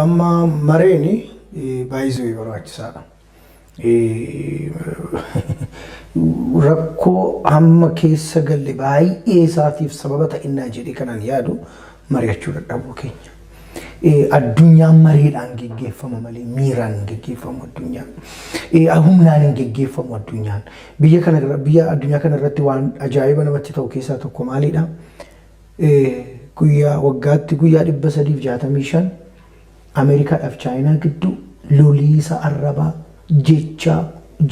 Amma mareen baay'isuu barbaachisaadha. Rakkoo amma keessa galle baay'ee isaatiif sababa ta'innaa jedhee kanan yaadu mari'achuu dadhabuu keenya. Addunyaan mareedhaan geggeeffama malee miiraan hin geggeeffamu addunyaan. Humnaan hin geggeeffamu addunyaan. Biyya kana biyya addunyaa kana irratti waan ajaa'iba namatti ta'u keessaa tokko maalidha? Guyyaa waggaatti guyyaa 365 Ameerikaadhaaf Chaayinaa gidduu loliisa arrabaa jechaa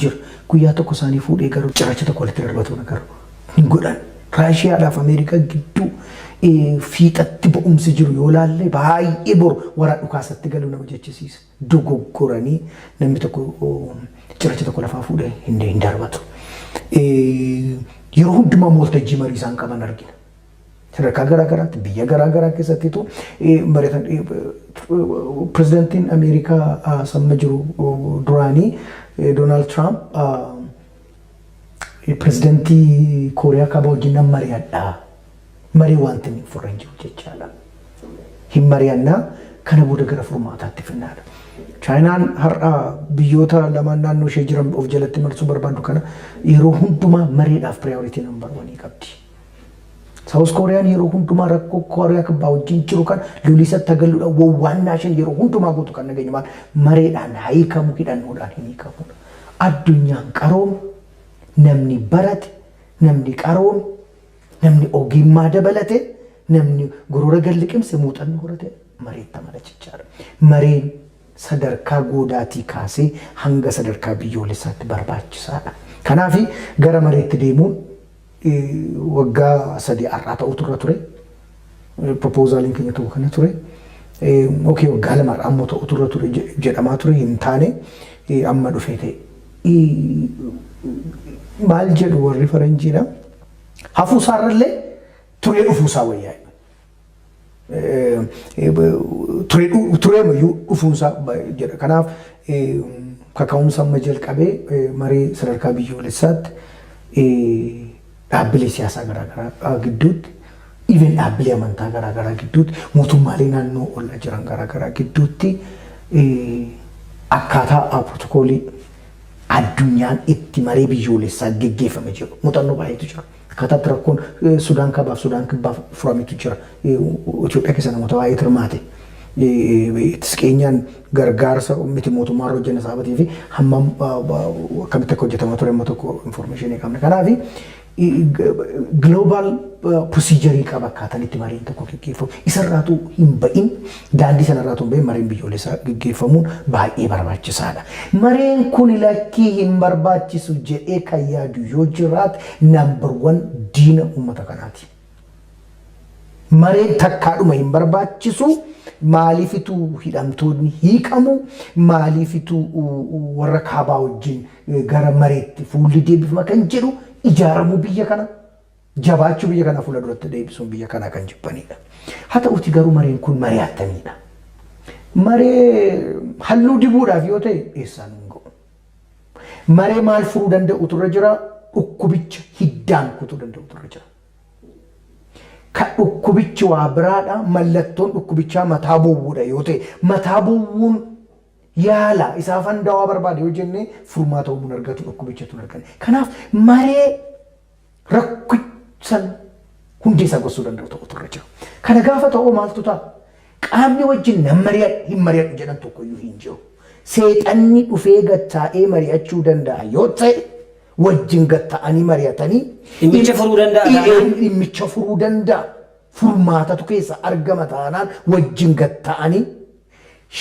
jira. Guyyaa tokko isaanii fuudhee garuu cirracha tokko walitti darbatuun garuu hin godhan. Raashiyaadhaaf Ameerikaa gidduu fiixatti ba'umsi jiru yoo laalle baay'ee boru waraa dhukaasatti galuu nama jechisiisa. dogoggoranii namni tokko cirracha tokko lafaa fuudhee hin hin darbatu. Eh, Yeroo hundumaa immoo waltajjii marii isaan qaban argina. Sadarkaa garaa garaatti biyya garaa garaa keessattitu eh, mari'atan eh, pirezidantiin Ameerikaa ah, samma jiru oh, duraanii eh, Doonaald Tiraamp ah, pirezidantii Kooriyaa Kaabaa wajjin nan mari'adha. malee waanti inni furre hin jiru jechaadha. Hin mari'anna, kana booda gara furmaataatti finnaadha. Chaayinaan har'a biyyoota lamaan naannoo ishee jiran of jalatti marsuu barbaaddu kana yeroo hundumaa mariidhaaf priority number wanii qabdi. Saawus Kooriyaan yeroo hundumaa rakkoo Kooriyaa kibbaa wajjin jiru kan loliisatti hagalluudha wawwaannaa isheen yeroo hundumaa gootu kan nageenya maal mareedhaan haikamu hidhannoodhaan hin hiikamuudha. Addunyaan qaroome namni barate namni qaroome Namni ogiimmaa dabalate, namni gorora gad liqimse muuxannoo horate mareetta mala jechaadha. Mareen sadarkaa goodaatii kaasee hanga sadarkaa biyyoolessaatti barbaachisaadha. Kanaafi gara mareetti deemuun waggaa sadii har'aa ta'uutu irra ture. Proposaliin keenya tokko kana ture. Ok waggaa lamaadha ammoo ta'utu irra ture jedhamaa ture hin taane amma dhufee ta'e. Maal jedhu warri faranjiidha. Hafuu isaarrallee turee dhufuu isaa wayyaa. Turee mayyuu dhufuun isaa jedha. Kanaaf kaka'umsa amma jalqabee marii sadarkaa biyyoolessaatti dhaabbilee siyaasaa garaa garaa gidduutti, even dhaabbilee amantaa garaa garaa gidduutti, mootummaalee naannoo olla jiran garaa garaa gidduutti akkaataa pirootokoolii addunyaan itti maree biyyoolessaa geggeeffame jiru muuxannoo baay'eetu jira. Akkaataa itti rakkoon Sudaan Kaabaa fi Sudaan Kibbaa furametu jira. Itoophiyaa keessa namoota baay'eetu hirmaate. Ittis keenyaan gargaarsa miti mootummaa irra hojjenne saabatii fi hammam akkamitti akka hojjetamaa ture amma tokko informeeshinii qabna. Kanaaf global procedure qaba akkaataan itti mariin tokko gaggeeffamu. Isarraatu hin ba'in daandii sanarraatu hin ba'in mariin biyyoolessaa gaggeeffamuun baay'ee barbaachisaadha. Mareen kun lakkii hin barbaachisu jedhee kan yaadu yoo jiraate number one diina uummata kanaati. Mareen takkaadhuma hin barbaachisu, maaliifitu hidhamtoonni hiikamu, maaliifitu warra kaabaa wajjin gara mareetti fuulli deebifama kan jedhu ijaaramuu biyya kana jabaachuu biyya kanaa fuula duratti deebisuun biyya kanaa kan jibbanidha. Haa ta'uti garuu mareen kun maree attamiidha? Maree halluu dibuudhaaf yoo ta'e eessaa nuun ga'u? Maree maal furuu danda'utu irra jira? Dhukkubicha hiddaan kutuu danda'utu irra jira. Ka dhukkubichi waa biraadha, mallattoon dhukkubichaa mataa bowwuudha yoo ta'e, mataa bowwuun yaala isaa fandawaa barbaada yoo jennee furmaata uumuun argatu dhukkubichatu hin argane. Kanaaf maree rakki san hundee isaa gorsuu danda'u tokkotu irra jira. Kana gaafa ta'u maaltu ta'a? Qaamni wajjin nan mari'adhu hin mari'adhu jedhan tokkoyyuu hin jiru. Seexanni dhufee gattaa'ee mari'achuu danda'a yoo ta'e wajjin gatta'anii mari'atanii Dhimmicha furuu danda'a Ee, taanaan? dhimmicha furuu danda'a. Furmaatatu keessa argama taanaan wajjin gatta'anii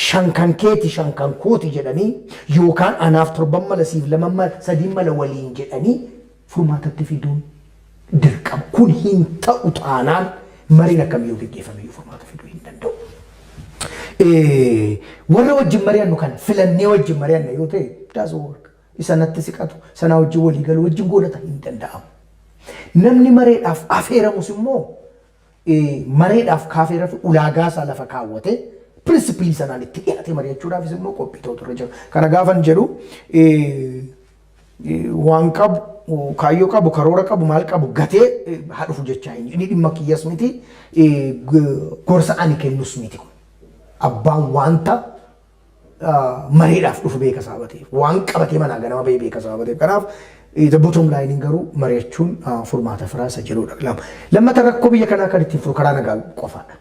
shan kan keeti shan kan kooti jedhanii yookaan anaaf torban mala siif lama mala sadiin mala waliin jedhanii furmaatatti fiduun dirqama. Kun hin ta'u taanaan mariin akkamiyyuu geggeeffamiyyuu furmaata fiduu hin danda'u. Warra wajjin mari'annu kana filannee wajjin mari'anna yoo ta'e daas work isa natti siqatu sanaa wajjin walii galu wajjin goonata hin danda'amu. Namni mareedhaaf afeeramus immoo mareedhaaf kaafeerafi ulaagaasaa lafa kaawwatee principally sanaan itti dhiyaatee mari'achuudhaafis immoo qophii ta'utu irra jira. Kana gaafan jedhu waan qabu kaayyoo qabu karoora qabu maal qabu gatee haa dhufu jechaa hin inni dhimma kiyyas miti gorsa ani kennus miti kun abbaan wanta mareedhaaf dhufu beeka sababa ta'eef waan qabatee manaa ganama bahee beeka sababa ta'eef kanaaf the bottom line garuu mari'achuun furmaata firaa isa jedhudha lama lammata rakkoo biyya kanaa kan ittiin furu karaa nagaa qofaadha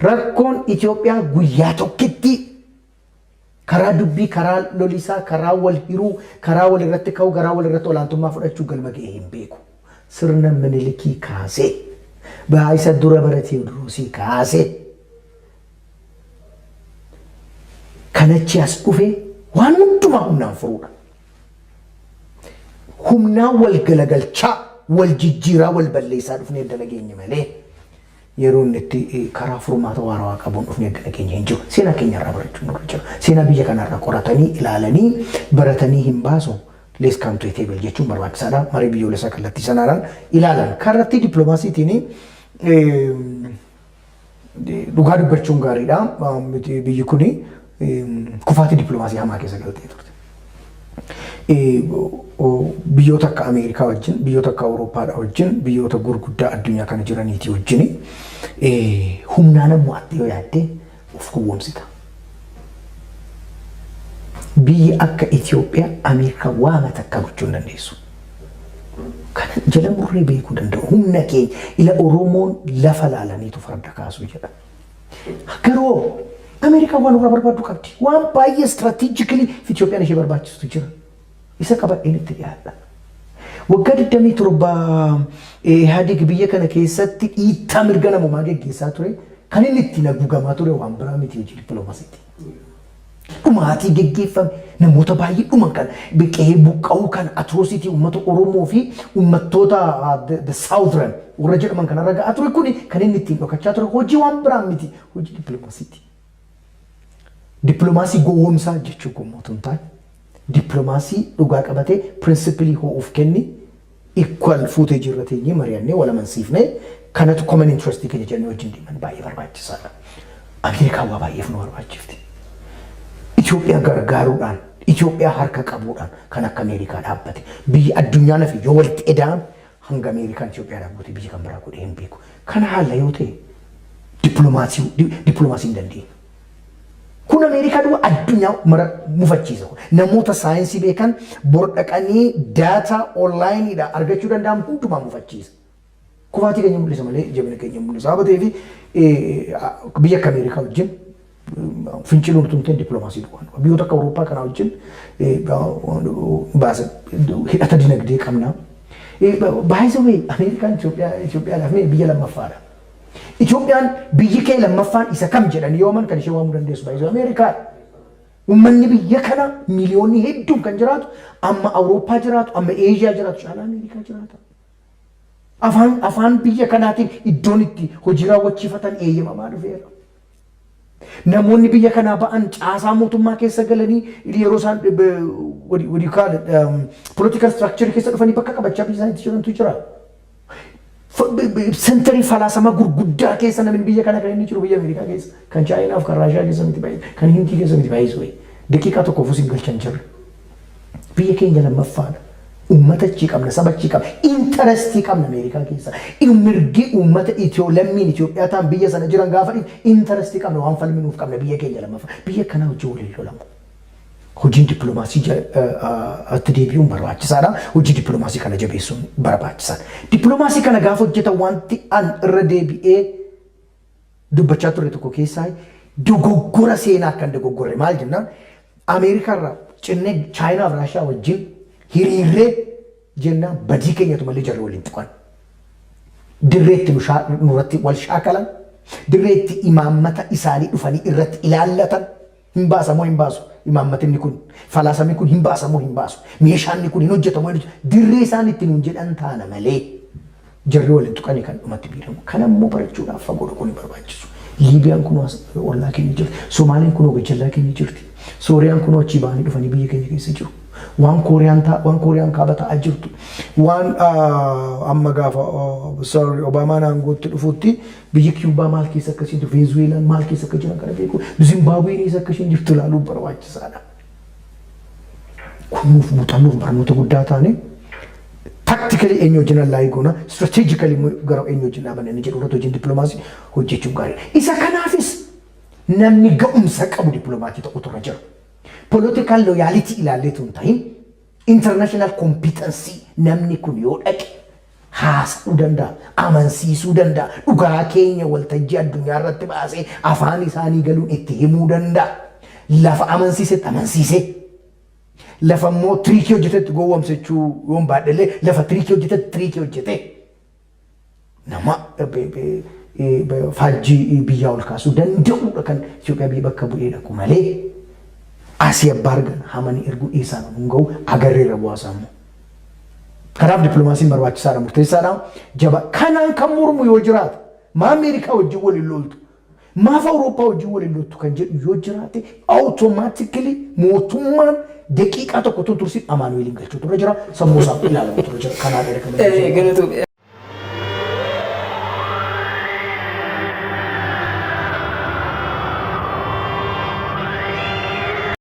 rakkoon Itoophiyaa guyyaa tokkitti karaa dubbii karaa lolisaa karaa wal hiruu karaa wal irratti ka'uu garaa wal irratti olaantummaa fudhachuu galma ga'ee hin beeku sirna minilikii kaasee baay'isa dura bara teewdiroosii kaasee. Kan achi as dhufee waan hundumaa humnaan furuudha. Humnaa wal galagalchaa wal jijjiiraa wal balleessaa dhufnee edda nageenye malee yeroo inni itti eh, karaa furmaata waarawaa qabuun dhufnee edda nageenye hin jiru. Seenaa keenya irraa barachuun nurra jira. Seenaa biyya kana irraa qoratanii ilaalanii baratanii hin baasu. Let's come to a table jechuun barbaachisaadha. Marii biyyoolessaa kallattii sanaadhaan ilaalan. Kallattii dippiloomaasiitiin eh, Dhugaa dubbachuun gaariidha. Biyyi kun kufaatii dippiloomaasii hamaa keessa galtee turte. Biyyoota akka Ameerikaa wajjin, biyyoota akka Awurooppaadhaa wajjin, biyyoota gurguddaa addunyaa kana jiraniitii wajjin humnaan ammoo atti yoo yaadde of gowwomsita. Biyya akka Ethiopia America waama takka gochuu hin dandeessu. Kana jala murree beekuu danda'u humna keenya ila Oromoon lafa laalaniitu farda kaasuu jedha. Garoo America waan irraa barbaaddu qabdi. Waan baay'ee strategically fi Ethiopian ishee barbaachistu jira. Isa qabadheen itti dhiyaadha. Waggaa 27 Ihaadig biyya kana keessatti dhiittaa mirga namoomaa geggeessaa ture kan inni ittiin haguugamaa ture waan biraa miti hojii dippiloomasiiti. Dhumaatii geggeeffame namoota baay'ee dhuman kana qe'ee buqqa'uu kana atroositii uummata Oromoo fi uummattoota the southern warra jedhaman kanarra ga'aa ture kun kan inni ittiin dhokachaa ture hojii waan biraa miti hojii dippiloomasiiti. Dippilomaasii gowwomsaa jechuu koo immoo utuu hin taane, dippilomaasii dhugaa qabatee pirinsipilii hoo'uuf kenni, equal fuutee jirra teenyee mari'annee wal amansiifnee kanatu common interest keenya jedhanii wajjin deeman baay'ee barbaachisaadha. Ameerikaan waa baay'eef nu barbaachifti. Itoophiyaa gargaaruudhaan, Itoophiyaa harka qabuudhaan kan akka Ameerikaa dhaabbate biyyi addunyaa nafi yoo walitti eda'ame Hanga Ameerikaan Itiyoophiyaadhaaf goote biyyi kan biraa godhee hin beeku. Kana haalla yoo ta'e dippiloomaasii di- dippiloomaasii hin dandeenyu. Kun Ameerikaa duwwaa addunyaa mara mufachiisa kun. Namoota saayinsii beekan bor dhaqanii daataa onlaayiniidhaa argachuu danda'an hundumaa mufachiisa. Kufaatii keenya mul'isa malee jabina keenya hin mul'isu. Sababa ta'eef eh, biyya akka Ameerikaa wajjin Fincila urtumtee diplomaasii duwwaan qaba. Biyyoota akka Awurooppaa kanaa wajjin hidhata dinagdee qabna. Baay'isa wee Ameerikaan Itoophiyaadhaaf mee biyya lammaffaadha. Itoophiyaan biyyi kee lammaffaan isa kam jedhanii yoo aman kan ishee waamuu dandeessu baay'isa Ameerikaadha. Uummanni biyya kana miliyoonni hedduun kan jiraatu amma Awurooppaa jiraatu amma Eeshiyaa jiraatu caalaa Ameerikaa jiraata. Afaan afaan biyya kanaatiin iddoon itti hojii raawwachiifatan eeyyamamaa dhufeera. Namoonni biyya kanaa ba'an caasaa mootummaa keessa galanii yeroo isaan eh, be- what do you- what do you call it, um, political structure keessa dhufanii bakka qabachaa biyya isaaniitti jirantu jira. Fa- be- be- Sentarii falaasama gurguddaa keessa namni biyya kana kan inni jiru biyya Ameerikaa keessa kan Chaayinaaf kan Raashiyaa keessa miti baay'ee kan Hindii keessa miti baay'ee sooyi. Daqiiqaa tokkoof usin galchan jirre. Biyya keenya lammaffaadha. Uummata achii qabna, saba achii qabna, interestii qabna Ameerikaa keessa. Mirgi uummata Itiyoo, lammiin Itiyoophiyaa ta'an biyya sana jiran gaafa dhiibu interestii qabna, waan falminuuf qabna biyya keenya lammaffaa. Biyya akkanaa wajjin wal hin lolamu. Hojiin dippiloomaasii itti deebi'uun barbaachisaadha. Hojii dippiloomaasii kana jabeessuun barbaachisaadha. Dippiloomaasii kana gaafa hojjetan wanti an irra deebi'ee dubbachaa turre tokko keessaa dogoggora seenaa akka hin dogoggorre maal jennaan Ameerikaa irraa cinnee Chaayinaa fi Raashiyaa wajjin hiriirree jennaan badii keenyatu malee jarri waliin tuqan. Dirreetti nu shaa- nurratti wal shaakalan, dirreetti imaammata isaanii dhufanii irratti ilaallatan, Hin baasa moo hin baasu? Imaammatinni kun, falaasamni kun hin baasa moo hin baasu? Meeshaanni kun hin hojjeta moo hin hojjetu? Dirree isaan itti nuun jedhan taana malee jarri wal hin tuqanii kan dhumatti miidhamu. Kana immoo barachuudhaaf fagoo dhaquun hin barbaachisu. Liibiyaan kunoo as ollaa keenya jirti. Somaaliin kunoo gajjallaa keenya jirti. Sooriyaan kunoo achii ba'anii dhufanii biyya keenya keessa jiru. Waan Kooriyaan ta'a, waan Kooriyaan kaaba ta'aa jirtu. Waan ah, amma gaafa oh, sorry, Obaamaan aangootti dhufutti Biyyi Kiyuubaa maal keessa akka isheen jirtu, Veenzuweelaan maal keessa akka jiran kana beekuun, Zimbaabween eessa akka isheen jirtu ilaaluun barbaachisaadha. Kun nuuf muuxannoof barnoota guddaa taane tactically eenyu wajjin allaayii goona, strategically immoo gara eenyu wajjin dhaabanna inni jedhu irratti hojiin dippiloomaasii hojjechuun gaariidha. Isa kanaafis namni ga'umsa qabu dippiloomaatii ta'utu irra jira. Political loyality ilaalleetu hin ta'in international competency namni kun yoo dhaqe haasa'uu danda'a, amansiisuu danda'a, dhugaa keenya waltajjii addunyaa irratti baasee afaan isaanii galuun itti himuu danda'a. Lafa amansiisetti amansiisee, lafa immoo tiriikii hojjetetti gowwomsachuu yoon baadhellee lafa tiriikii hojjetetti tiriikii hojjetee nama faajjii biyyaa ol kaasuu danda'uudha kan Itoophiyaa biyya bakka bu'ee dhaqu malee asii abbaa argan hamanii erguu dhiisaan hin ga'u agarreerra bu'aasaa immoo. Kanaaf dippilomaasiin barbaachisaadha, murteessaadha, jaba. Kanaan kan mormu yoo jiraate, maa Ameerikaa wajjin wal hin loltu, maaf Awurooppaa wajjin wal hin loltu kan jedhu yoo jiraate, awutomaatikili mootummaan daqiiqaa tokko tun tursiin Amaanu'eeliin galchuutu irra jira, sammuu isaaf ilaalamutu irra jira. Kanaan dheera kan Eh, hin galatu.